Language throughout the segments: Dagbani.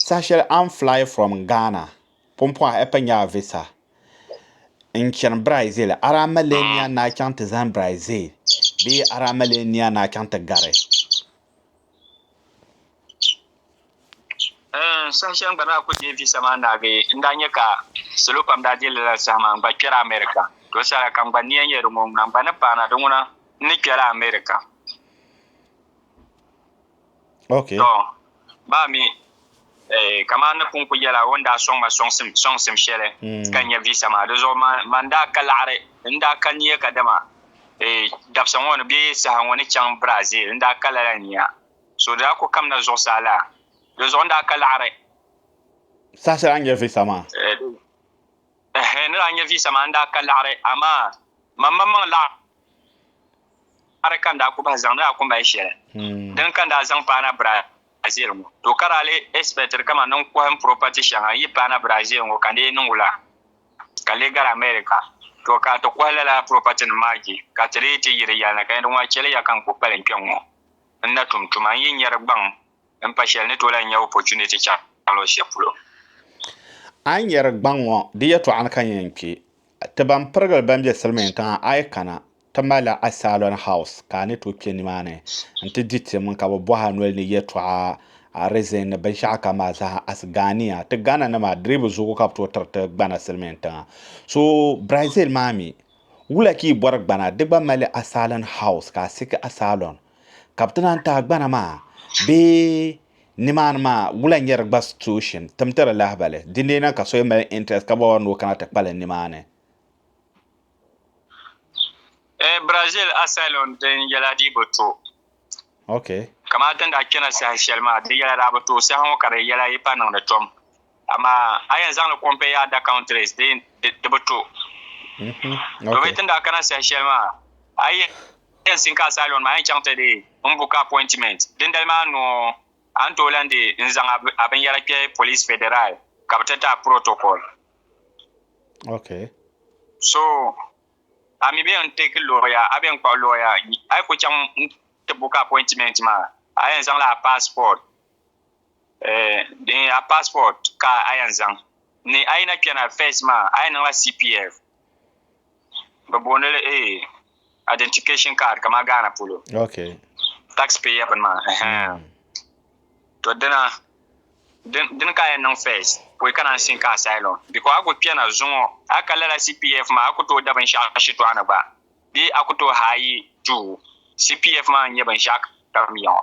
Saha shɛli I'm fly from Ghana Pumpɔha Epenyaa Visa n-chani Brazil Arama lee nia ni a chaŋ ti zani Brazil bee Arama lee nia ni a chaŋ ti gari? Saha shɛli n gba daa kuli deei visa maa naagi n daa nya ka salo pam daa deei li lala saha maa n gba kpɛri America. To saha kam gba nia n-yɛn di ŋɔ ŋuna n gba ni paana di ŋuna n ni kpɛla America. Okay. To, baa mi, eh, kaman ni pun ku yɛla o ni daa sɔŋ ma sɔŋsim, sɔŋsim shɛli mm. ka nya visa maa, di zuɣu man, man daa ka laɣiri, n daa ka nia ka dama eh, dabisa ŋɔ ni bee saha ŋɔ ni chaŋ Brazil, n daa ka lala nia. So di daa ku kamina zuɣusaa la, di zuɣu n daa ka laɣiri. Saha shɛli a nya visa maa? Eh, eh, ni daa nya visa maa n daa ka laɣiri, amaa man maŋmaŋ laɣiri. Kari ka n daa ku bahi zaŋdi a kumbali shɛli dini ka n daa zaŋ paana Brazil ŋɔ, to ka daa lee expectiri kaman ni n kɔhi n property shɛŋa n yi paana Brazil ŋɔ ka n lee niŋ wula ka lee gari America. To ka ti kɔhi lala property nim maa je ka ti lee ti yi di yɛlina ka nya di ŋɔ a chɛli ya ka n ku kpalim kpe ŋ-ŋɔ n na tum tuma n yi nya di gbaŋ m pa shɛli ni tolahi nya opportunity chaŋ luɣ'shɛli polo. A yi nya di gbaŋ ŋɔ di yɛtɔɣa ni ka n yɛn kpe. Ti ban pirigili ban be Silimiin tiŋa a yi kana ti malila Asylum House ka a ni tooi kpe nimaani nti di tim ka bɛ bɔhi a noli ni yɛltɔɣa reason ni binshɛɣu kam maa zaa as Ghanea. Ti Ghana nim a diribu zuɣu ka bɛ tooi tiri ti gbana Silimiin tiŋa. So Brazil maa mi wula ka yi bɔri gbana di gba malili Asylum House ka a seek Asylum ka bɛ ti naan ti a gbana maa bee Nimaani maa, wula n-nyɛ di gba situeshin, timti di lahibali. Dindee na ka so yi mali intirɛst ka bɔbɔri ni o kana ti kpali nimaani. Eeh Brazil asylum din yɛla di bi to. Okay. Kamani ti ni daa kpɛna saha shɛli maa, di yɛla daa bi to, saha ŋɔ ka di yɛla yi pa niŋdi tom. Amaa a yɛn zaŋli compare your other countries dee di bi to. To bee tin daa kana saha shɛli maa a yi yɛn sink asylum maa a yɛn chaŋ ti dee n book appointment dindali maa noo a ni tooi lan dee n zaŋ a binyɛra kpɛ police federal ka bi ti ti a protocol. So a mi bee n take lawyer a bee n kpuɣi lawyer a yi ku chaŋ n ti book appointment maa a yɛn zaŋla a passport. Din nyɛ a passport ka a yɛn zaŋ ni a yi na kpɛna first maa a yɛn niŋla CPF bɛ booni li identification card kamani Ghana polo tax payer bini maa to dina dini ka a yɛn niŋ first pɔi ka naan sin ka asylum because a ku kpɛna zuŋɔ a ka lala CPF maa a ku tooi da binshɛɣu shitɔɣu ni gba bee a ku tooi haayi duu CPF maa n-nyɛ binshɛɣu kam ya ŋɔ.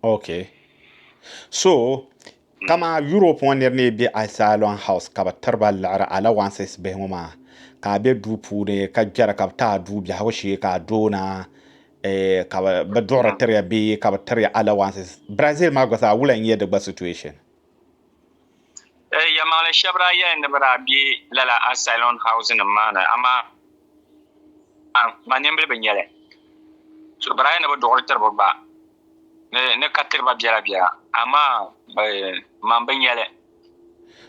Ok. So, kama Europe ŋɔ nir ni be Asylum House ka bɛ tiri ba liɣiri allowances bihi ŋɔ maa, ka a be duu puuni ka gbera ka bɛ ti a duu biɛhigu shee ka a doona eh, ka bɛ bɛ duɣiri tiri ya bee ka bɛ tiri ya allowances. Brazil maa gba zaa wula n-nyɛ di gba situation? Eh, yɛlimaŋli shɛba daa yɛli ni bɛ daa be lala asylum housenim maa ni, amaa ma nimbili bi nya li. So daa yɛli ni bɛ duɣiri tiri ba gba ni ka tiri ba biɛla biɛla, amaa eh, ma m-bi nya li.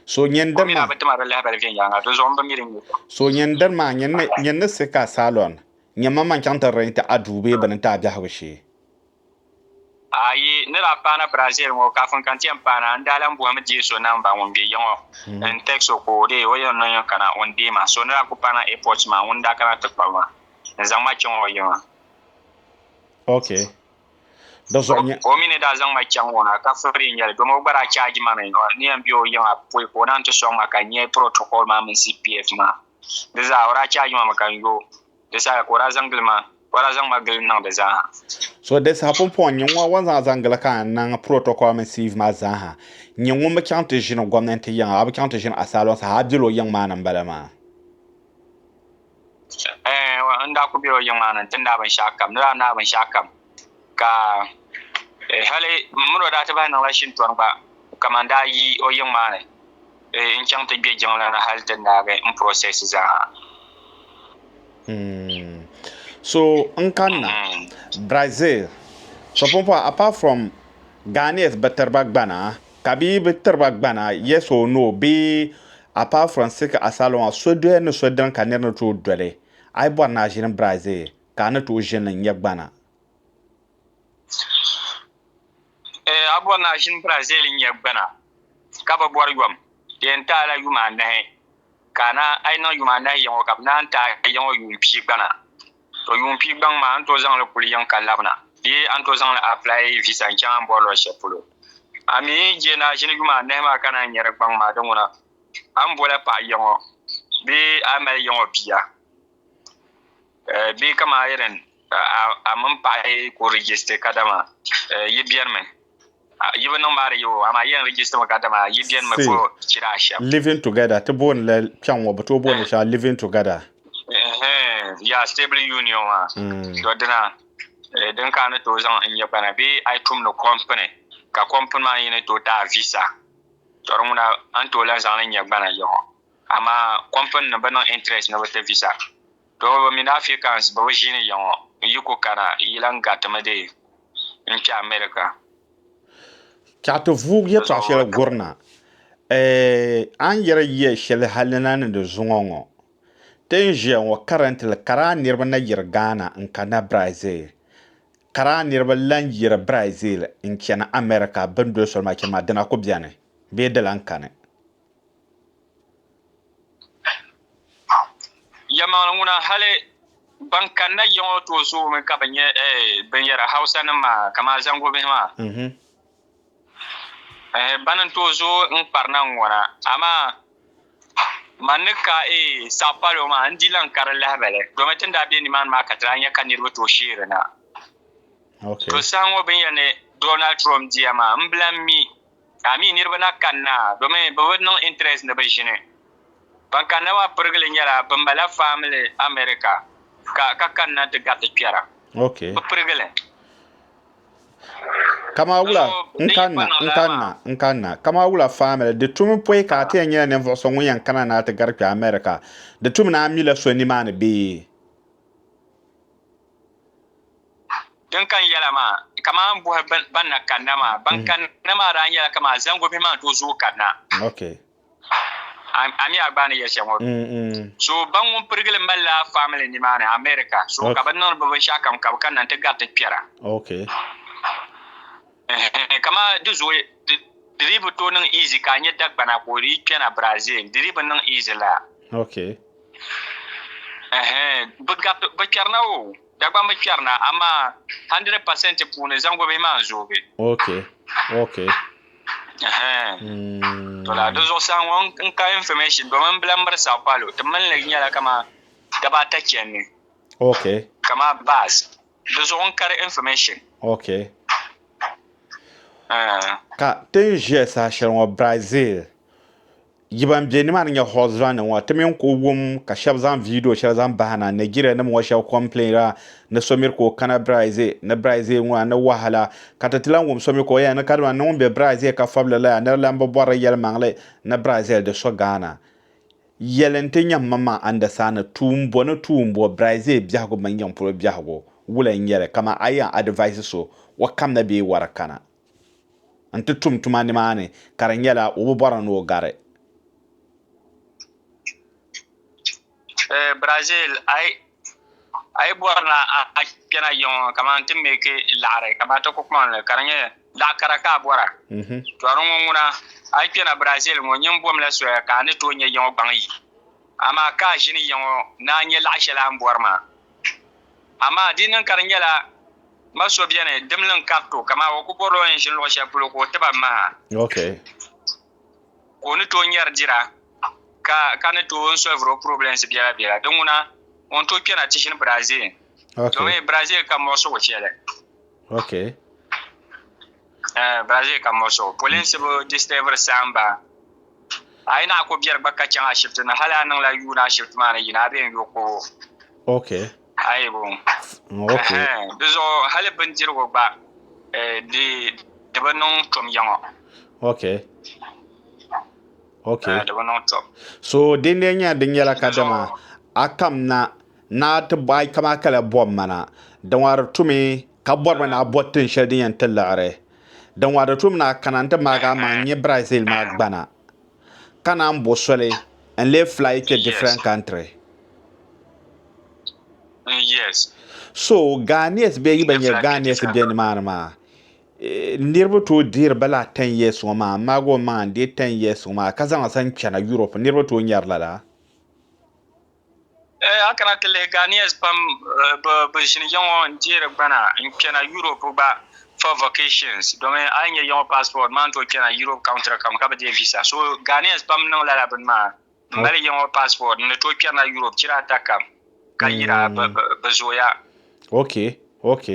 So nyɛn diri ma. O mi daa bi ti ma di lahibali viɛnyɛliŋga, di zuɣu m-bi mi di nya shɛm. So nyɛn diri ma, nyɛn ni siɣi ka asylum, nyɛn ma ma n-chaŋ ti rɛnti a duu bee bini n-ti a biɛhigu shee. A yi ni daa paana Brazil ŋɔ kafin ka n ti yɛn paana, n daa lan bɔhimi deei so namba ŋun be ya ŋɔ n-text so ka o deei o ya n-niŋ ya kana o ni deei ma. So ni daa kuli paana airport maa ŋun daa kana ti kpabi ma n-zaŋ ma chaŋ o yiŋa. Ok. Di zuɣu nya. O mi ni daa zaŋ ma chaŋ o na ka free n-nyɛli domi o gba daa charge ma mi. N ni yɛn be o yiŋa pɔi ka o naan ti sɔŋ ma ka n nya protocol maa mini CPF maa di zaa o daa charge ma mi ka n yo. Di saha ka o daa zaŋ gili ma, ka o daa zaŋ ma gili niŋ di zaaha. So di saha pumpɔŋ nyini ŋɔ wan zaŋ zaŋ gili ka n niŋ protocol mini sieve maa zaaha. Nyini ŋun bi chaŋ ti ʒini gomnanti yiŋa, a bi chaŋ ti ʒini asylum saha, a bela o yiŋ maa ni n bala maa? Eeh, n daa kuli bela o yiŋ maa ni n ti naai binshɛɣu kam. N ni daa naai binshɛɣu kam. ka hali mini o daa ti bahi niŋla shintɔri gba kaman daa yi o yiŋ maa ni n-chaŋ ti gbe jiŋli ni hali ti naagi n process zaaha. So n kanna Brazil so pun pɔi apart from Ghanaians bi tiriba gbana ka bɛ yi bi tiriba gbana yes or no bee apart from seek asylum a so doya ni so dini ka niriba ni tooi doli a yi bɔri ni a ʒini Brazil ka a ni tooi ʒini n nya gbana. Ee, a bɔri ni a ʒini Brazil n nya gbana, ka bi bɔri yom di yɛn taai la yuma anahi, ka a na a yi niŋ yuma anahi yiŋɔ ka bi naan taai yiŋɔ yuun pia gbana. To yuun pia gbaŋ maa a ni tooi zaŋ li kuli yiŋ ka labina bee a ni tooi zaŋ li apply visa n chaŋ a ni bɔri luɣi shɛli polo. A mi je ni a ʒini yuma anahi maa ka naan nya di gbaŋ maa, di ŋuna, a ni bɔla paɣa yiŋɔ bee a mali yiŋɔ bia. Bee ka maa yɛlin a mini paɣa yi ku rijisiti kadama yi biɛrimi yi bi niŋ maa di yɛ o amaa yɛn rijisitimi kadama yi biɛrimi ko chira ashɛm. Living together ti booni li kpɛŋ ŋɔ bi tooi booni li shɛŋa living together. Yaa stable union maa to dina din ka a ni tooi zaŋ n nyɛ kpana bee a yi tumdi kɔmpini ka kɔmpini maa yi ni tooi ti a visa to di ŋuna a ni tooi lahi zaŋ li nyɛ gbana yiŋɔ amaa kɔmpini nim bi niŋ interest ni bi ti visa. Dɔɣiba mini Africans bɛ bi ʒiini ya ŋɔ n-yi ku kana yi lan garitimi dee n-kpe America. Chaɣ ti vuug yɛtɔɣ shɛli guri na, Eeh, a ni yɛri yiya shɛli hali na ni di zuŋɔ ŋɔ. Ti ni ʒiya ŋɔ currently kara niriba na yiri Ghana n-kanna Brazil. Kara niriba lan yiri Brazil n-chani America bɛ ni doli soli maa chani maa dina ku beni bee di lan kani? Yɛlimaŋli ŋuna hali ban kanna ya ŋɔ tooi zoomi ka bɛ nya binyɛra Hausanim maa kamani zaŋgu bihi maa. Bana n-tooi zooi n-kparina n-ŋɔna amaa man ni ka Sao Paulo maa n-di lan ka di lahibali domi ti ni daa be nimaani maa ka ti daa nya ka niriba tooi sheerina. To saha ŋɔ binyɛri ni Donald Trump diya maa m-bi lan mi. Ka mi niriba na kanna domi bɛ bi niŋ interest ni bɛ ʒini. Ban kanna maa pirigili nyɛla bɛ mala family America ka ka kanna ti gariti kpɛra. Okay. Bɛ pirigili. Kama wula So, n din yɛn kanna pa niŋ n lala kanna maa. n kanna kama wula family di tumi pɔi ka a ti yɛn nyɛla ninvuɣu so ŋun yɛn kana ni a ti gari kpɛ America di tumi ni a mila so nimaani bee? Din kani yɛla maa, kaman buhi ban na kanna maa, ban kanna maa daa nyɛla kaman zaŋgu bihi maa ni tooi zooi kanna. A mi a gba ni yɛli shɛli ŋɔ. So ba ŋun pirigi li mali la family nimaani America, so ka bɛ niŋdi bɛ binshɛɣu kam ka bɛ kanna n-ti gariti kpɛra. Kamani di zooi di dii bi tooi niŋ easy ka a nya Dagbana ka o dii kpɛna Brazil di dii bi niŋ easy laa. Okay. Ɛhɛn bi gariti bi kpɛrina o Dagbani bi kpɛrina amaa hundred percent puuni zaŋgobihi maa n zoogi. Okay. Okay. Ɛhɛn. To laa di zuɣusaa ŋɔ n ka information domin n bi lahi miri Sao Paulo ti mini li nyɛla kamani daba ata chɛndi. Okay. Kamani bus Di zuɣu n kari information. Ok. Uh. Ka ti ni ʒiya saha shɛli ŋɔ Brazil, yi ban be nimaani nyɛ husband ŋɔ, ti mi n kuli wum ka shɛba zaŋ video shɛli zaŋ bahi na, Nigeria nim ŋɔ shɛba complainira ni so miri ka o kana Brazil, ni Brazil ŋuna ni wahala. Ka ti ti lan wum so mi ka o yɛli ni kadama ni ŋun be Brazil ka fabili la yaa nira lan bi bɔrili yɛlimaŋli ni Brazil di so Ghana. Yɛli nti nyam man maa Andasani tuumbo ni tuumbo Brazil biɛhigu mini yiŋ polo biɛhigu wula n-nyɛ li ka man a yɛn adivise so o kamna bee wara kana nti tum tuma nimaani ka di nyɛla o bi bɔri ni o gari Brazil. a yi bɔri na a kpɛna yiŋ ŋɔ kamani ti meeki laɣiri kamani ti kukpɔnli ka di nyɛ laɣ kara ka a bɔra mhm. tɔri ŋɔ ŋuna a yi kpɛna Brazil ŋɔ nyin bomla soya ka a ni tooi nyɛ yiŋɔ gbaŋ yi amaa ka a ʒini yiŋɔ ni a nyɛ laɣ shɛli a ni bɔri maa amaa di niŋ ka di nyɛla ma so bɛni dimli n-kariti o kamani o ku bɔrila o ni ʒini luɣ shɛli polo ka o tiba maha ka o ni tooi nyari dira ka ni tooi solviri o problems biɛla biɛla din ŋuna ŋun tooi kpɛna ti ʒini Brazil domin Brazil ka muɣisigu shɛli okay Brazil ka muɣisigu polinsi bi disturbiri saamba a yi naɣi ko biɛri gba ka chaŋ ashibiti ni hali a niŋla yuun ashibiti maa ni yina a bee n yo kobo okay Aibu. Okay. Di zuɣu hali bindirigu gba di di bi niŋ tom yaŋɔ. Okay. Okay. Di bi niŋ tom. So din lee nyɛla din nyɛla ka dama a kam na na ti bo ai kama kala bom mana din wa di tumi ka bɔri mi na a bɔri tin shɛli din yɛn ti liɣiri din wa di tumi na kana n ti maagi a maŋ nyɛ Brazil maa gbana. ka naan bo soli n lee fly kpe different country. So Ghanese bee yi bi nyɛ Ghanese be nimaani maa niriba tooi dihiri ba lala ten years ŋɔ maa n maagi o maŋa n deei ten years ŋɔ maa ka zaŋ li zaŋ chana Europe niriba tooi nyari lala. A kana ti lihi Ghanaians pam bi ʒini ya ŋɔ n deeri gbana n kpɛna Europe gba for vacations domin a yi nya ya ŋɔ passport maa n tooi kpɛna Europe country kam ka bi deei visa so Ghanaians pam niŋ lala bini maa n mali ya ŋɔ passport n ni tooi kpɛrina Europe chira ata kam ka yira bi zooya. Ok ok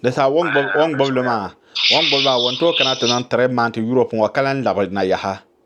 di sa o ni gbubi li maa o ni gbubi li maa o ni tooi kana ti niŋ three month Europe ŋɔ ka lan labi na yaha.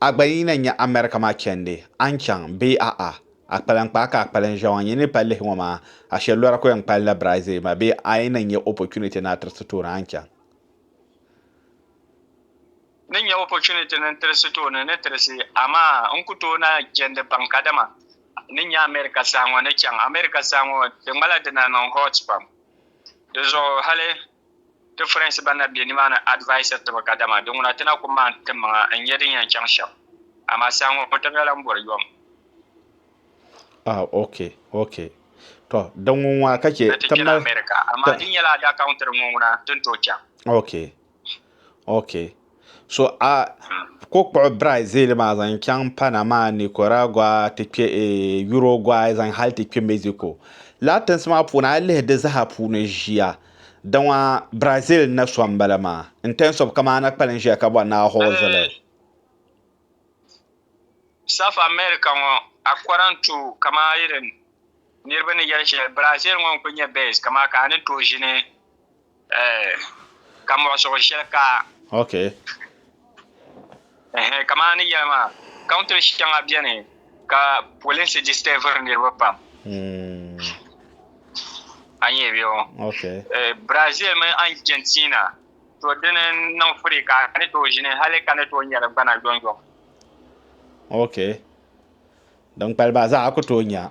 A gba yi na nya America maa chɛndi, a ni chaŋ bee a'a? A kpalim kpaa ka a kpalim ʒiɛwa ŋɔ nyɛ ni pali lihi ŋɔ maa, a shɛli lɔra ka o yɛn kpalim la Brazil maa bee a yi na nya opportunity ni a tirisi tooni a ni chaŋ? N ni nya opportunity ni n tirisi tooni n ni tirisi, amaa n ku tooi na jɛndi baŋ kadama n ni nya America saha ŋɔ ni chaŋ. America saha ŋɔ di ŋmala di na niŋ hot pam, di zuɣu hali Ti Firensi ban na be nimaani advisiri tiba kadama di ŋuna ti na ku maani ti maŋa n-nya din yɛn chaŋ shɛm. Amaa saha ŋɔ tamya lan bɔri yom. Ah, ok, ok. Tɔ, din ŋun ŋɔ ka chɛ ti mali. America, amaa di nyɛla adaka ŋun tiri ŋɔ ŋuna ti ni tooi chaŋ. Ok, ok. So a ko kpuɣi Brazil maa zaŋ chaŋ Panama, Nicaragua ti kpe Uruguay zaŋ hali ti kpe Mexico. Lala tinsi maa puuni a yi lihi di zaa puuni ʒia daŋɔ Brazil n-na so m-bala maa in terms of kaman a na kpalim ʒiya ka bɔri ni a hoozili. South America ŋɔ according to kaman irin niriba ni yɛli shɛli Brazil ŋɔ n-kuli nyɛ best kaman ka a ni tooi ʒini Eh, ka muɣisigu shɛli ka. Ok. Eh, kamaa ni yɛli maa, country shɛŋa beni ka polinsi disturbiri niriba pam. Hmm. A nyɛ bɛ o. Ok. Eh, Brazil mini Argentina, to dini niŋ firi ka a ni tooi ʒini hali ka ni tooi nya di gbana yɔŋyɔŋ. Ok. Din kpali ba zaa a ku tooi nya.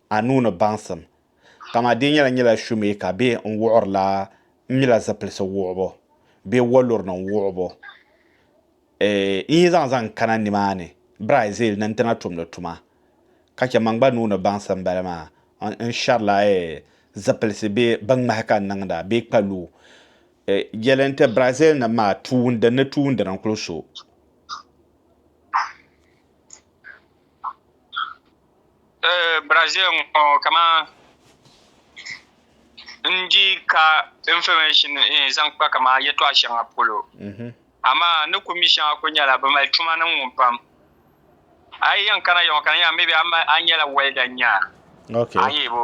a nuu ni baŋsim, ka maa dee nyɛla nyɛla shoemaker bee n wuɣiri la n mila zipilisi wuɣibu bee waluri nim wuɣibu n yi zaŋ zaŋ kana nimaa ni Brazil ni n ti na tumdi tuma ka chɛ man gba nuu ni baŋsim n bala maa n shɛri la zipilisi bee bin ŋmahi ka n niŋda bee kpa luu yɛli n ti Brazil nim maa tuundi ni tuundina n kuli so Brazil ŋɔ kama n di ka information zaŋ kpa kama yɛtɔɣ shɛŋa polo amaa ni ku mi shɛŋa kuli nyɛla bɛ mali tuma niŋ ŋɔ pam a yi yɛn kana ya ŋɔ ka di nyɛla maybe a nyɛla welder n-nya a nya bɔ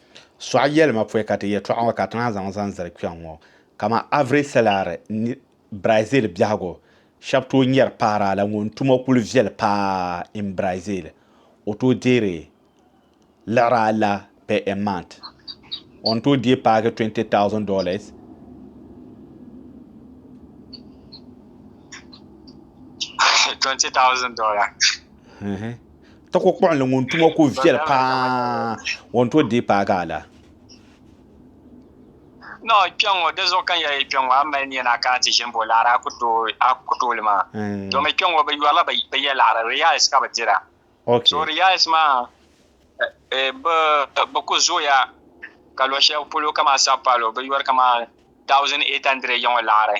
Sɔɣi yɛlima pɔi ka ti yɛtɔɣa ŋɔ ka ti naan zaŋ zaŋ zali kpɛŋ ŋɔ. Kaman Avre Selare ni Brazil biɛhigu shɛba tooi nyari paara la ŋun tuma kuli viɛli paa in Brazil. O tooi deeri liɣiri ala per a month. O ni tooi deei paagi twenty thousand dollars. Twenty thousand dollars. Tako kpuɣinli ŋun tuma ku viɛli paa o ni tooi deei paagi a la. Noo kpɛŋŋo, dinzuɣu ka n yɛli kpɛŋŋo, a ni mali nia ni a kana ti ʒini bo laɣiri a ku tooi li maa? Domi kpɛŋŋo bɛ yɔrila bɛ ya laɣiri, reals ka bɛ dira. So reals maa bɛ ku zooya ka luɣ shɛli polo kaman Sao Paulo bɛ yɔri kaman 1,800 yiŋɔ laɣiri.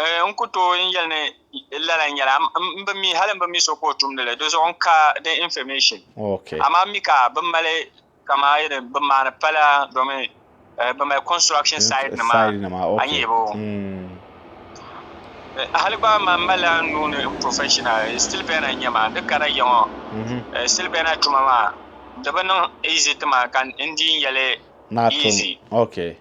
Eh, n ku tooi n yɛli ni lala nyɛla, m bi mi, hali m bi mi so ka o tumdi li, di zuɣu n ka the information. Okay. Amaa m mi ka bɛ mali kaman yi ni bɛ maani pala domin eh, bɛ mali construction site nima Side nima, a okay. yihibu. Mm. Eh, Hali gba man m malila n nuu ni n professional, eh, steel bender n-nyɛ ma, di kara yiŋɔ, Mhm. eh, steel bender tuma maa di bi niŋ easy ti ma ka n di n yɛli Naa tum. easy. Okay.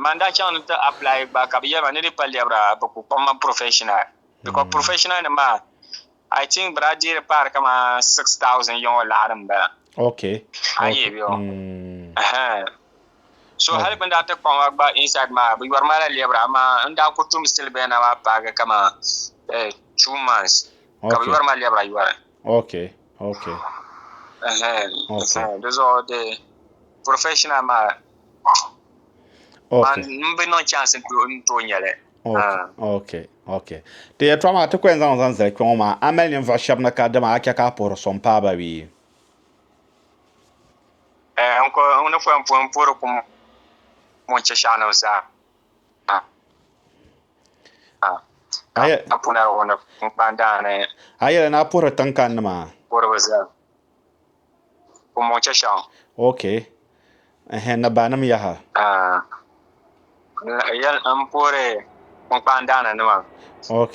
man daa chaŋ ni ti apply gba ka bi yɛrima ni di kpa lɛbira bi ku kpaŋ ma professional because professional nim maa I think bi daa deei di paari kamani six thousand yɛŋɔ laɣiri n bala okay a yi yɛbi o so hali bin daa ti kpaŋ ma gba inside maa bi yɛri ma la lɛbira amaa n daa ku tum still bɛya na maa paagi kamani two months ka bi yɛri ma lɛbira yɛri ok ok di zuɣu de professional maa n bi niŋ chance n to nyɛli ok ok ti yɛtɔɣa maa ti kuyɛn zaŋ zaŋ zali kpɛ ŋɔ maa a mali ninvuɣu shɛba ni ka dama a chɛ ka a puhiri so n paai ba bee n ko n ni pɔi n puhiri kum ŋun chɛ shɛɣu nim zaa A yɛla ni a puhiri tiŋkani nima ok ni banim yaha ok